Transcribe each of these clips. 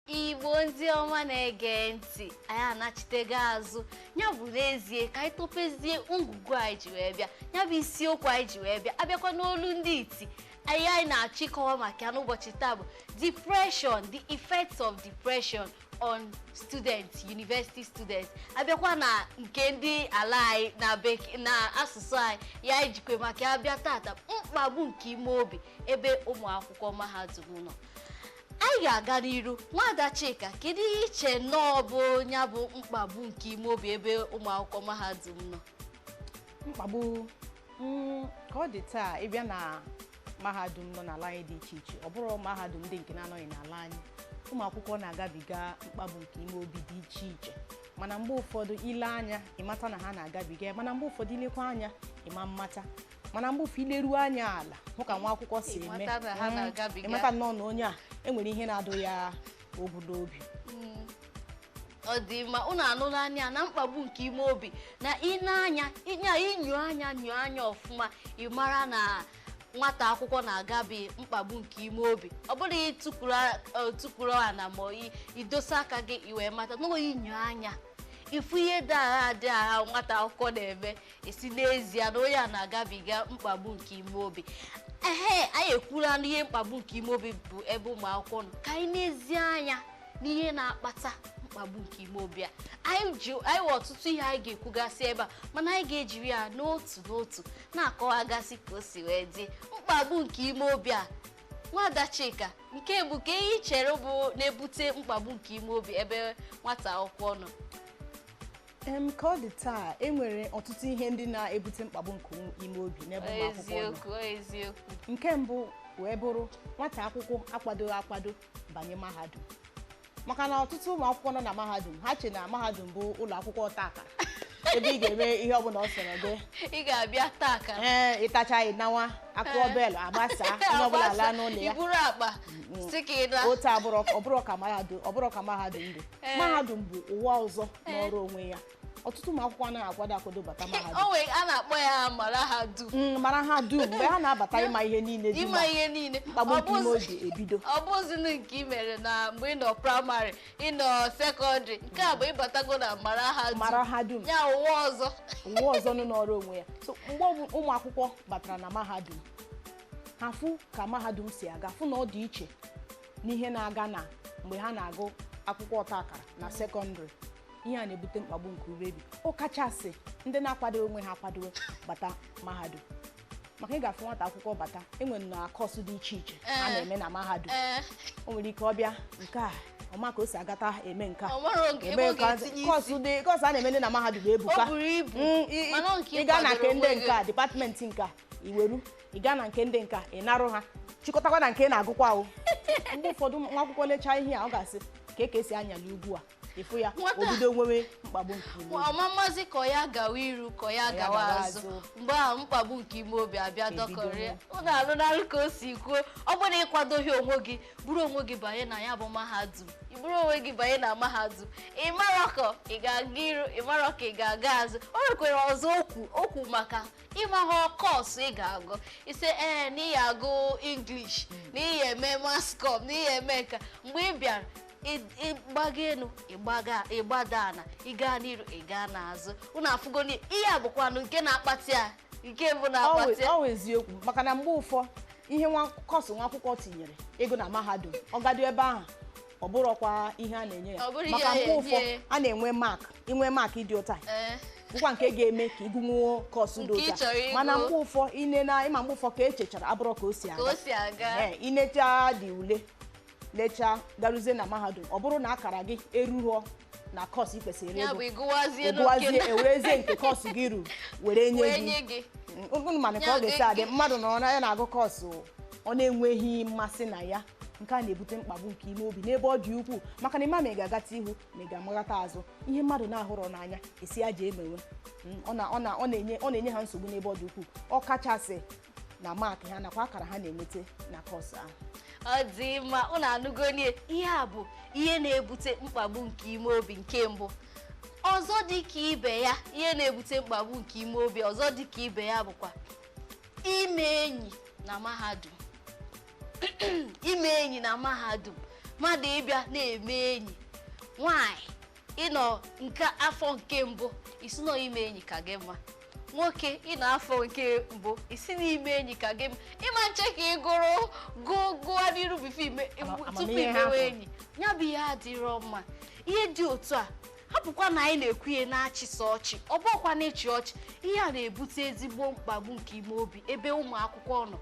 igbo ndị ọma na-ege ntị anyị anachitego azụ ya bụ n'ezie ka anyị topezie ngwugwu anyị ji wee bịa ya bụ isiokwu anyị ji wee bịa abịakwa n'olu ndị iti ihe anyị na-achọ ịkọwa maka ya n'ụbọchị taa bụ depression the effects of depression on students university students abịakwa na nke ndị ala anyị na bek- na asụsụ anyị ihe anyị jikwe maka ya bịa tata mkpagbu nke ime obi ebe ụmụ akwụkwọ mahadum nọ anyị ga-aga n'iru nwada Chika kedu ihe i che nnọọ bụ ya bụ mkpagbu nke ime obi ebe ụmụ akwụkwọ mahadum nọ mkpagbu mm, ka ọ dị taa ị bịa na mahadum nọ n'ala anyị dị iche iche ọ bụrụ mahadum ndị nke na-anọghị n'ala anyị ụmụ akwụkwọ na-agabiga mkpagbu nke ime obi dị iche iche mana mgbe ụfọdụ i lee anya ị mata na ha na-agabiga ya mana mgbe ụfọdụ i lekwa anya ị ma mmata mana mgbe ụfọdụ i leruo anya ala hụ ka nwa akwụkwọ si eme Ị mata na ha Mm, na-agabiga. ị mata nnọọ na onye a e nwere ihe na-adụ ya ogwu n'obi ọ dị mma unu anụla ya na mkpagbu nke ime obi na i nee anya i nyoo anya nyoo anya ọfụma ị mara na nwata akwụkwọ na-agabi mkpagbu nke ime obi ọ bụrụ i tukwuru ana ma i- i dosa aka gị i wee mata na i nyoo anya ị fụ ihe dị agha dị agha nwata akwụkwọ na-eme ị sị n'ezie na onye a na-agabiga mkpagbu nke ime obi ehe anyị ekwula na ihe mkpagbu nke ime obi bụ ebe ụmụ akwụkwọ nọ ka anyị nezie anya n'ihe na-akpata mkpagbu nke ime obi a anyị ji anyị nwere ọtụtụ ihe anyị ga-ekwugasị ebe a mana anyị ga-ejiri ya n'otu n'otu na-akọwagasị ka o si wee dị mkpagbu nke ime obi a nwada Chika nke mbụ kee ihe i chere bụ na-ebute mkpagbu nke ime obi ebe nwata akwụkwọ nọ em ka ọ dị taa e nwere ọtụtụ ihe ndị na-ebute mkpagbu nke ime obi n'ebe ụmụ akwụkwọ nọ eziokwu eziokwu nke mbụ wee bụrụ nwata akwụkwọ akwadoghị akwado banye mahadum maka na ọtụtụ ụmụ akwụkwọ nọ na mahadum ha che na mahadum bụ ụlọ akwụkwọ ọta akara ebe ị ga-eme ihe ọbụla ọ sọrọ gị ị ga-abịa taa akara ị tachaa ị nawa a kụọ bell a gbasaa onye ọbụla laa n'ụlọ ya i buru akpa sị ka ị naa otu a abụrọ ọ bụrọ ka mahadum ọ bụrọ ka mahadum dị Ee. mahadum bụ ụwa ọzọ nọọrọ onwe ya ọtụtụ ụmụ akwụkwọ anaghị akwado akwado bata o mahadum nwere a na-akpọ ya mara ha dum Mm, mara ha dum mgbe ha na-abata ịma ihe niile dị ịma na ihe niile mkpagbu Ọ nke ime bụzi- obi ebido ọ bụzịrọ nke ị mere na mgbe ị nọ praịmarị ị nọ sekọndịrị nke a bụ ị batago na mara ha dum mara ha dum ya ụwa ọzọ ụwa ọzọ nọọrọ onwe ya so mgbe ọ bụ ụmụ akwụkwọ batara na mahadum ha fụ ka mahadum si aga fụ na ọ dị iche n'ihe na-aga na mgbe ha na-agụ akwụkwọ ọta akara na sekọndịrị ihe a na-ebute mkpagbu nke uru obi ọ kachasị ndị na-akwado onwe ha akwado bata mahadum maka ị ga-afụ nwata akwụkwọ bata e nwere na kọọsụ dị iche iche a Ee. na-eme na mahadum ee o nwere ike ọ bịa nke a ọ ma ka o si agata eme nke a o nwere oge ebe ebe ọ nke a- ga-etinye isi kọọsụ dị- kọọsụ a na-eme ndị na mahadum ebuka o buru ibu Mm, i- i- mana ọ nke ị gaa na kwadoro nke ndị onwe nke gị. a dịpatmenti nke a i weru ị gaa na nke ndị nka ị narụ ha chịkọtakwa na nke ị na-agụkwa ahụ mgbe ụfọdụ nwa akwụkwọ lechaa ihe a ọ ga-asị kee ka e si anyali ugwu a ị fụ ya Nwata. o bido nwewe mkpagbu nke ime obi. ọ mamazị ka ya gawa iru ka ya gawa gawa azụ azụ. mgbe ahụ mkpagbu nke ime obi abịa Ebido dọkọrịa nwe. ụnụ anụlanụ ka o si kwuo ọ bụrụ na ị kwadoghị onwe gị buru onwe gị banye na ya bụ mahadum i buru onwe gị banye na mahadum ị marọ ka ị ga-aga iru ị marọ ka ị ga-aga azụ o nwekwara ọzọ okwu okwu maka ịmaghọ kọọsụ ị ga-agụ ị sị ee na ị ya agụ English na ị ya eme mascom na ị ya eme nka mgbe ị bịara ị- ị gbaga elu ịgbaga ị gbada ala ị gaa n'iru ị gaa n'azụ unu afụgoni ihe a bụkwanụ nke na-akpata ya nke mbụ na-akpata ya ọ wụ eziokwu maka na mgbe ụfọ ihe kọọsụ nwa akwụkwọ tinyere ịgụ na mahadum ọ gaduo ebe ahụ ọ bụrọkwa ihe a na-enye ya Ọ bụrụ ihe maka a mgbe ụfọ na-enye. a na-enwe mak inwe maakị dị otu a Ee, bụkwa nke ga-eme ka ị gụnwuo kọọsụ dị Nke ị otu a chọrọ ịgụ. mana mgbe ụfọ ine na ị ma mgbe ụfọ ka e chechara abụrọ ka o si ka o aga si aga Ee, i nechaa dị ule lechaa garuzie na mahadum ọ bụrụ na akara gị erughọ na kọọsụ i kwesịrị ịgụ ya bụ ịgụwazie gụwazie e werezie nke kọọsụ gị ruru were nye wee gị nye gị unu manụ ka Ya ọ ga-esi dị- adị mmadụ nọrọ na ya na-agụ kọọsụ ọ na-enweghị mmasị na ya nke a na-ebute mkpagbu nke ime obi n'ebe ọ dị ukwuu maka na ị ma ma ị ga-agata ihu ma ị ga-amaghata azụ ihe mmadụ na-ahụrọ n'anya a sị ya jee mewe Mm, ọ na- ọ na- ọ na-enye ọ na-enye ha nsogbu n'ebe ọ dị ukwuu ọ kachasị na maakị ha nakwa akara ha na-enweta na kọọsụ ahụ ọ dị mma ụnụ anụgoni ihe a bụ ihe na-ebute mkpagbu nke ime obi nke mbụ ọzọ dị ka ibe ya ihe na-ebute mkpagbu nke ime obi ọzọ dị ka ibe ya bụkwa ime enyi na mahadum ime enyi na mahadum mmadụ ịbịa na-eme enyi nwanyị ị nọ nke afọ nke mbụ ị sị na ime enyi ka gị mma nwoke ị nọ afọ nke mbụ ị sị na ime enyi ka gị mma ị ma nche ka ị gụrụ gawa n'iru bifo ime Ama- tupu amamihe ha i mewe bụ. enyi ya bụ ihe adịrọ mma ihe dị otu a hapụkwa na anyị na-ekwu ihe na-achịsị ọchị ọ bụkwa na-achị ọchị ihe a na-ebute ezigbo mkpagbu nke ime obi ebe ụmụ akwụkwọ nọ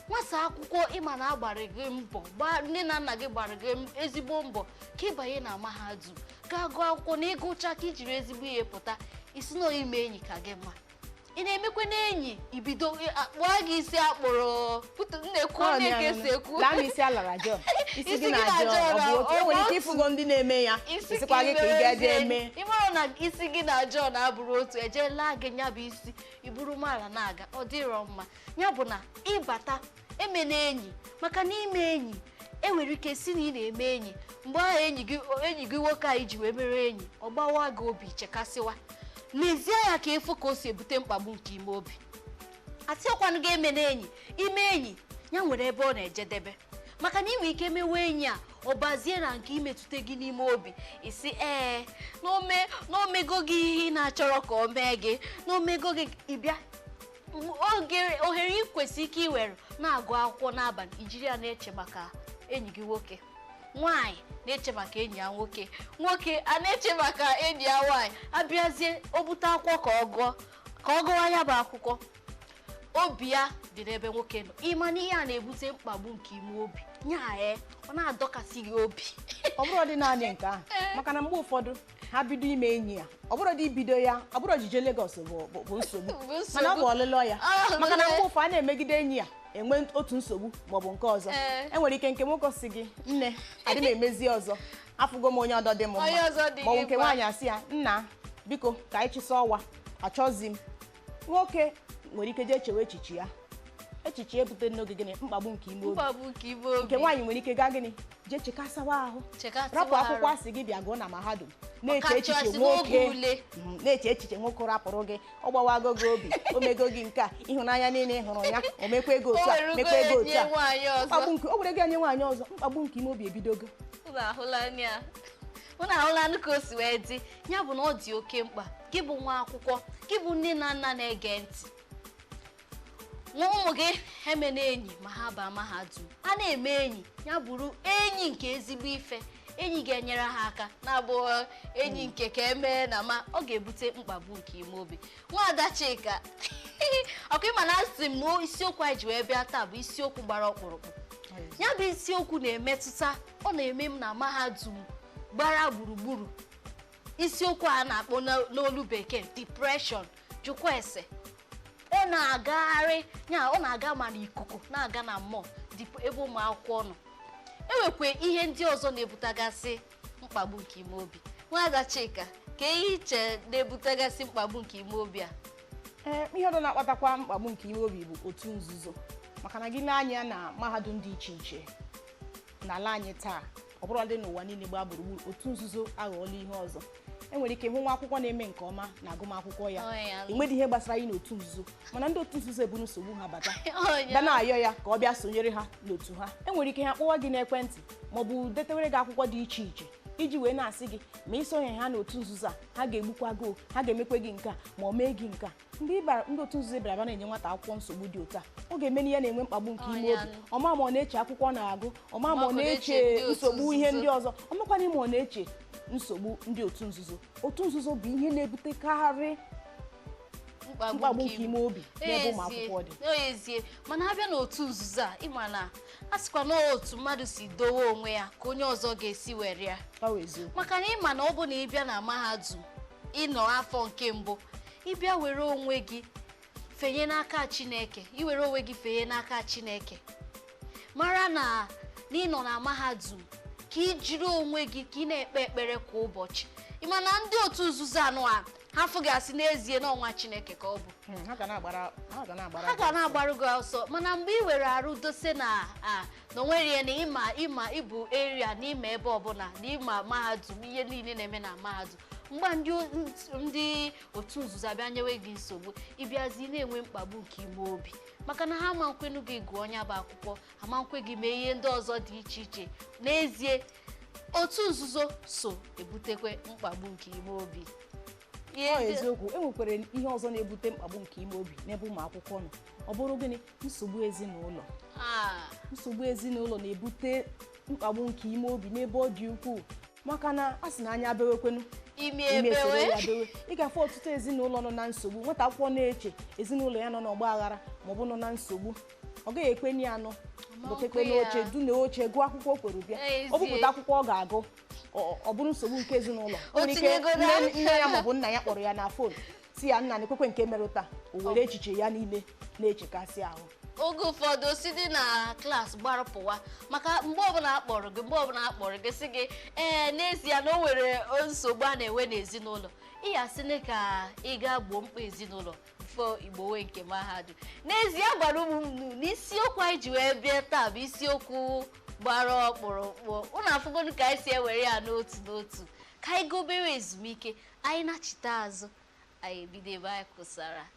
nwata akwụkwọ ịma na agbara gị mbọ gbaa nne na nna gị gbara gị m- ezigbo mbọ ka ịbanye na mahadum gaa gụọ akwụkwọ na ịgụcha ka ijiri ezigbo ihe pụta isi na ọ ime enyi ka gị mma ị na-emekwanụ enyi ibido akpụọ gị isi akpụrụ putu na-ekwu onye ka esi ekwu laa m isi alara John isi Isi gị gị na John na John ọ bụ otu ọ enwere bụ ike ịfụgo ndị na-eme ya isi isikwa gị ka ị gaa jee eme ị mara na isi gị na John abụrụ otu eje laa gị nya bụ isi iburu mara na-aga ọ dịrọ mma ya bụ na ịbata emena enyi maka na ime enyi enwere ike si na ị na-eme enyi mgbe ahụ enyi gị enyi gị nwoke a iji wee mere enyi ọ gbawa gị obi chekasịwa n'ezie ya ka efu ka o si ebute mkpagbu nke ime obi asịrọkwanụ gị emena enyi ime enyi ya nwere ebe ọ na-ejedebe maka na ị nwere ike mewe enyi a ọ bazie na nke imetụta gị n'ime obi isi ee na o me na o mego gị ihe ị na-achọrọ ka o mee gị na o mego gị ịbịa oge ohere ị kwesịrị ike iwere na-agụ akwụkwọ n'abalị ijiri ya na-eche maka enyi gị nwoke nwaanyị na-eche maka enyi ya nwoke nwoke a na-eche maka enyi ya nwaanyị abịazie o bute akwụkwọ ka ọ gụọ ka ọ gụwa ya bụ akwụkwọ obi ya dị n'ebe nwoke nọ ịma na ihe a na-ebute mkpagbu nke ime obi nya ee ọ na-adọkasị gị obi ọ bụrọ dị naanị nke ahụ maka na mgbe ụfọdụ ha bido ime enyi a ọ bụrọ dị ibido ya ọ bụrọ ojije Lagos bụ bụ- bụ nsogbu Bụ nsogbu. mana ọ bụ ọlụla ya Ah, maka na ọlụla ya. mgbe ụfọ a na-emegide enyi a enwe otu nsogbu maọbụ nke ọzọ Ee. enwere ike nke nwoke sị gị nne adị m emezi ọzọ afụgo m onye ọdọ dị m mma Onye ọzọ dị maọbụ gị nke mma. nwaanyị asị ya nna biko ka anyị chịsa ọwa achọzi m nwoke nwere ike jee chewe echiche a echiche ebute n'oge gịnị mkpagbu nke ime obi mkpagbu nke ime obi nke nwaanyị nwere ike gaa gịnị jee chekasawa ahụ Chekasịwa rapụ arụ. akwụkwọ asị gị bịa gụọ na mahadum na-eche Ọkachasị echiche n'oge nwoke ule. Mm, na-eche echiche nwoke rapụrụ gị ọ gbawago gị obi o mego gị nke a ịhụnanya niile ị hụrụ ya o mekwago otu a O were mekwago ugo otu nye a nwaanyị ọzọ. mkpagbu nke o were gị nye nwaanyị ọzọ mkpagbu nke ime obi ebidogo Unu ahụla anya unu ahụlanụ ka o si wee dị ya bụ na ọ dị oke mkpa gị bụ nwa akwụkwọ gị bụ nne na nna na-ege ntị gwa ụmụ gị emena enyi ma ha baa mahadum a na-eme enyi ya bụrụ enyi nke ezigbo ife enyi ga-enyere ha aka na-abụ enyi nke ka emee na ma ọ ga-ebute mkpagbu nke ime obi nwaada Chika ọkwa ịma na asị m isiokwu anyị ji wee bịa taa bụ isiokwu gbara ọkpụrụkpụ ya bụ isiokwu na-emetụta ọ na-eme m na mahadum gbara gburugburu isiokwu a na-akpọ n'o- n'olu bekee depression jụkwa ese ọ na-agagharị ya ọ na-aga ma n'ikuku na-aga na mmụọ ebe ụmụ akwụkwọ nọ enwekwa ihe ndị ọzọ na-ebutagasị mkpagbu nke ime obi nwaada chika kee ihe i che na-ebutagasị mkpagbu nke ime obi a ee ihe ọzọ na-akpatakwa mkpagbu nke ime obi bụ otu nzuzo maka na gị nee anya na mahadum dị iche iche n'ala anyị taa ọ bụrụdị n'ụwa niile gbaa gburugburu otu nzuzo aghọọla ihe ọzọ enwere ike hụ nwa akwụkwọ na-eme nke ọma n'agụmakwụkwọ ya enwedị ihe gbasara ya na otu nzuzo mana ndị otu nzuzo eburu nsogbu ha bata bịa na-ayọ ya ka ọ bịa sonyere ha n'otu ha enwere ike ha kpọwa gị n'ekwentị maọbụ detewere gị akwụkwọ dị iche iche iji wee na-asị gị ma i sonye ha n'otu nzuzo a ha ga-egbukwa gị ha ga-emekwe gị nke a ma ọ mee gị nke a mgbe ndị otu nzuzo bịara bịa na-enye nwata akwụkwọ nsogbu dị otu a ọ ga-eme na ya na-enwe mkpagbu nke ime obi ọ ma ma ọ na-eche akwụkwọ ọ na-agụ ọ ma ma ọ na-eche nsogbu ihe ndị ọzọ ọ makwana ma ọ na-eche nsogbu ndị otu nzuzo otu nzuzo bụ ihe na-ebutekarị mkpagbu nke ime obi n'ebe ụmụ akwụkwọ dị n'ezie mana a bịa n'otu nzuzo a ị ma na a sịkwa na otu mmadụ si dowe onwe ya ka onye ọzọ ga-esi were ya ọ bụ eziokwu maka na ị ma na ọ bụ na ị bịa na mahadum ị nọ afọ nke mbụ ị bịa were onwe gị fenye n'aka Chineke i were onwe gị fenye n'aka Chineke mara na ị nọ na mahadum ka i jiri onwe gị ka ị na-ekpe ekpere kwa ụbọchị ị ma na ndị otu nzuzo anụwa ha fụ gị sị n'ezie na ọ nwa Chineke ka ọ bụ hmm, ha ga na-agbarụ gị ọsọ mana mgbe i were arụ dose na na onwere ya na ị ma ị ma ị bụ area na ị ma ebe ọbụla na ị ma mahadum ihe niile na-eme na mahadum mgbe ndị o- ndị otu nzuzo abịa nyewe gị nsogbu ị bịazi na-enwe mkpagbu nke ime obi maka na ha ama nkwenu gị gụọ nya bụ akwụkwọ ha ama nkwe gị mee ihe ndị ọzọ dị iche iche n'ezie otu nzuzo so ebutekwe mkpagbu nke ime obi eziokwu e nwekwara ihe ọzọ na-ebute mkpagbu nke ime obi n'ebe ụmụ akwụkwọ nọ ọ bụrụ gịnị nsogbu ezinụlọ Ah. nsogbu ezinụlọ na-ebute mkpagbu nke ime obi n'ebe ọ dị ukwuu maka na a sị na anya bewekwenu imi ebewe ị ga-afụ ọtụtụ ezinụlọ nọ na nsogbu nwata akwụkwọ na-eche ezinụlọ ya nọ n'ọgba aghara maọbụ nọ na nsogbu ọ gaghị ekwenụ ya nọ bụtekwe n'oche du n'oche gụọ akwụkwọ o kwere bịa o bupụta akwụkwọ ọ ga-agụ ọ- ọ bụrụ nsogbu nke ezinụlọ o nwere ike nne ya maọbụ nna ya kpọrọ ya na fon sị ya nna na-ekwekwe nke mere taa o were echiche ya niile na-echekasị ahụ oge ụfọdụ o si dị na klaasị gbara pụwa maka mgbe ọbụla a kpọrọ gị mgbe ọbụla a kpọrọ gị sị gị ee n'ezie na o nwere nsogbu a na-enwe n'ezinụlọ ị ya-asị na ka ị gaa gboo mkpa ezinụlọ before ị gbowe nke mahadum n'ezie agwara m ụnụ na isiokwu anyị ji wee bịa taa bụ isiokwu gbara ọkpụrụkpụ ụnụ afụgonu ka anyị si ewere ya n'otu n'otu Ka anyị gaa obere ezumike, anyị nachite azụ, anyị ebido ebe anyị kwụsara.